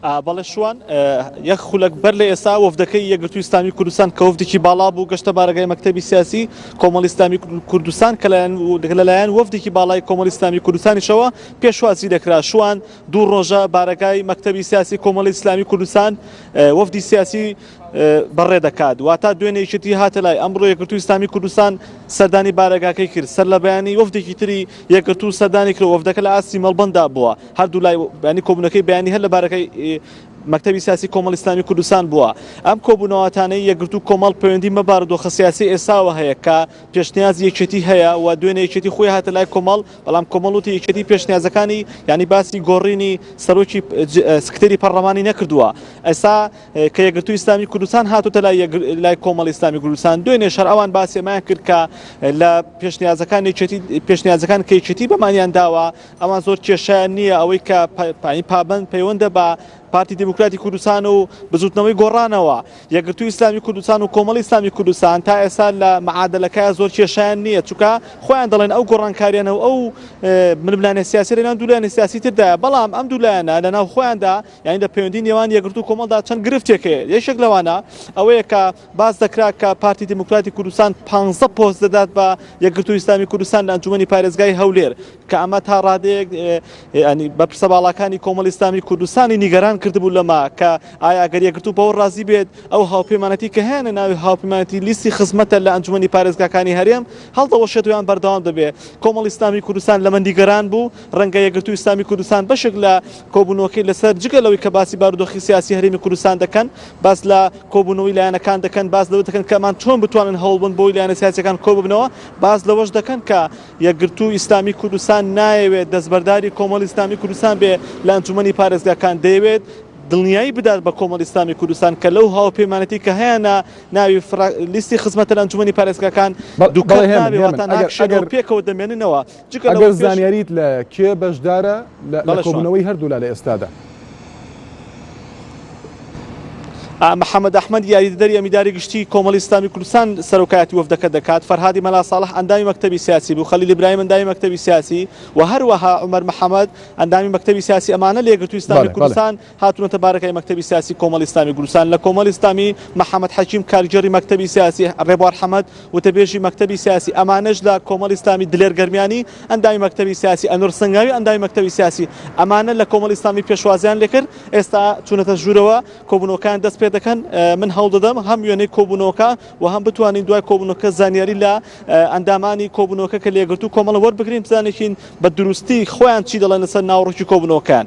بەڵێ شوان یەک خولەک بەر لە ئێستا وەفدەکەی یەگرتووی ئسلامی کوردستان کە وەفدێکی باڵا بوو گەشتە بارەگای مەکتتەبی سیاسی کۆمەڵی ئسلامی کوردستان کە لایەن لەلایەن وەفدێکی باڵای کۆمەڵی ئسلامی کوردستانیشەوە پێشوازی دەکرا شوان دوو ڕۆژە بارەگای مەکتتەبی سیاسی کۆمەڵی ئسلامی کوردستان وەفدی سیاسی بەڕێ دەکات، واتە دوێنێ یەکێتی هاتە لای، ئەمڕۆ یەکگرتووی ئیسلامی کوردستان سەردانی بارەگاکەی کرد، سەرلەبەیانی وەفدێکی تری یەکگرتوو سەردانی کرد و وەفدەکە لە ئاستی مەڵبەنددا بووە، هەردوولای بەیانی کۆبوونەکەی بەیانی هەر لە بارەگای مەکتەبی سیاسی کۆمەڵی ئیسلامی کوردستان بووە، ئەم کۆبوونەواتانەی یەکگرتوو و کۆمەڵ پەیوەندی مە بارودۆخە سیاسی ئێستاوە هەیە کە پێشنیازی یەکێتی هەیە و دوێنێ یەکێتی خۆی هاتە لای کۆمەڵ، بەڵام کۆمەڵ وتی یەکێتی پێشنیازەکانی یانی باسی گۆڕینی سەرۆکی سکرتێری پەڕڵەمانی نەکردووە، ئێستا. کە یەکگرتووی ئیسلامی کوردستان هاتۆتە لای لای کۆمەڵی ئیسلامی کوردستان دوێنێش هەر ئەوان باسی ئەمەیان کرد کە لە پێشنیازەکان یەکێتی پێشنیازەکان کە یەکێتی بەمانیان داوە ئەوان زۆر کێشیان نییە ئەوەی کە پا- پا- پابەند پەیوەندە بە پارتی دیموکراتی کوردستان و بزوتنەوەی گۆڕانەوە یەکگرتووی ئیسلامی کوردستان و کۆمەڵی ئیسلامی کوردستان تا ئێستا لە معادلەکە زۆر کێشیان نییە چونکە خۆیان دەڵێن ئەو گۆڕانکاریانە و ئەو اه، ململانێ سیاسی لەناو دوو لایەنە سیاسی تردایە بەڵام ئەم دوو لایەنە لەناو خۆیاندا یانی لە پەیوەندی نێوان یەکگرتوو و کۆمەڵدا چەند گرفتێک هەیە، یەکێک لەوانە ئەوەیە کە باس دەکرا کە پارتی دیموکراتی کوردستان پانزدە پۆست دەدات بە یەکگرتوو و ئیسلامی کوردستان لە ئەنجوومەنی پارێزگای هەولێر کە ئەمە تا ڕادەیەک یانی بەپرسە باڵاکانی کۆمەڵی ئیسلامی کوردستانی نیگەران کردبوو لەمە کە ئایا گەر یەکگرتوو بەوە ڕازی بێت ئەو هاوپەیمانەتی کە هەیانە ناوی هاوپەیمانەتی لیستی خزمەتە لە ئەنجوومەنی پارێزگاکانی هەرێم هەڵدەوەشێت و یان بەردەوام دەبێت کۆمەڵی ئیسلامی کوردستان لەمە نیگەران بوو ڕەنگە یەکگرتوو و ئیسلامی کوردستان بەشێک لە کۆبوونەوەکەی لەسەر جگە لەوەی کە باسی بارودۆخی سیاسی هەرێمی کوردستان دەکەن، باس لە کۆبوونەوەی لایەنەکان دەکەن، باس لەوە دەکەن کە ئەمان چۆن بتوانن هەوڵ بن بۆی لایەنە سیاسییەکان کۆببنەوە، باس لەوەش دەکەن کە یەکگرتوو ئیسلامی کوردستان نایەوێت دەستبەرداری کۆمەڵی ئیسلامی کوردستان بێ لە ئەنجومەنی پارێزگاکان، دەیەوێت دڵنیایی بدات بە کۆمەڵی ئیسلامی کوردستان کە لەو هاوپەیمانێتی کە هەیانە ناوی فراک لیستی خزمەتە لە ئەنجومەنی پارێزگاکان دووکەڵ نابێ واتە ناکشێنەوە پێکەوە دەمێننەوە. ئەگەر زانیاریت لە کێ بەشدارە لە کۆبوونەوەی هەردوولا لە ئێستادا؟ محەمەد ئەحمەد، یاریدەدەری ئەمیداری گشتیی کۆمەڵی ئیسلامیی کوردستان سەرۆکایەتی وەفدەکە دەکات، فەرهادی مەلا ساڵح ئەندامی مەکتەبی سیاسی بوو، خەلیل ئیبراهیم ئەندامی مەکتەبی سیاسی و هەروەها عومەر محەمەد ئەندامی مەکتەبی سیاسی ئەمانە لە یەکگرتووی ئیسلامیی کوردستان هاتونەتە بارەگای مەکتەبی سیاسی کۆمەڵی ئیسلامی کوردستان لە کۆمەڵی ئیسلامی، محەمەد حەکیم کارگێڕی مەکتەبی سیاسی، رێبوار حەمەد وتەبێژی مەکتەبی سیاسی ئەمانەش لە کۆمەڵی ئیسلامی، دلێر گەرمیانی ئەندامی مەکتەبی سیاسی، ئەنوەر سنگاوی ئەندامی مەکتەبی سیاسی ئەمانە لە کۆمەڵی ئیسلامی پێشوازیان لێکرد ئێستا چونەتە ژورەوە کۆبونەوەکەیان دەست پێدەکەن من هەوڵدەدەم هەم وێنەی کۆبونەوەکە و هەم بتوانین دوای کۆبونەوەکە زانیاری لە ئەندامانی کۆبونەوەکە کە لە یەکگرتوو کۆمەڵە وەربگرین بزانین بە دروستی خۆیان چی دەڵێن لەسەر ناوەڕۆکی کۆبونەوەکەیان.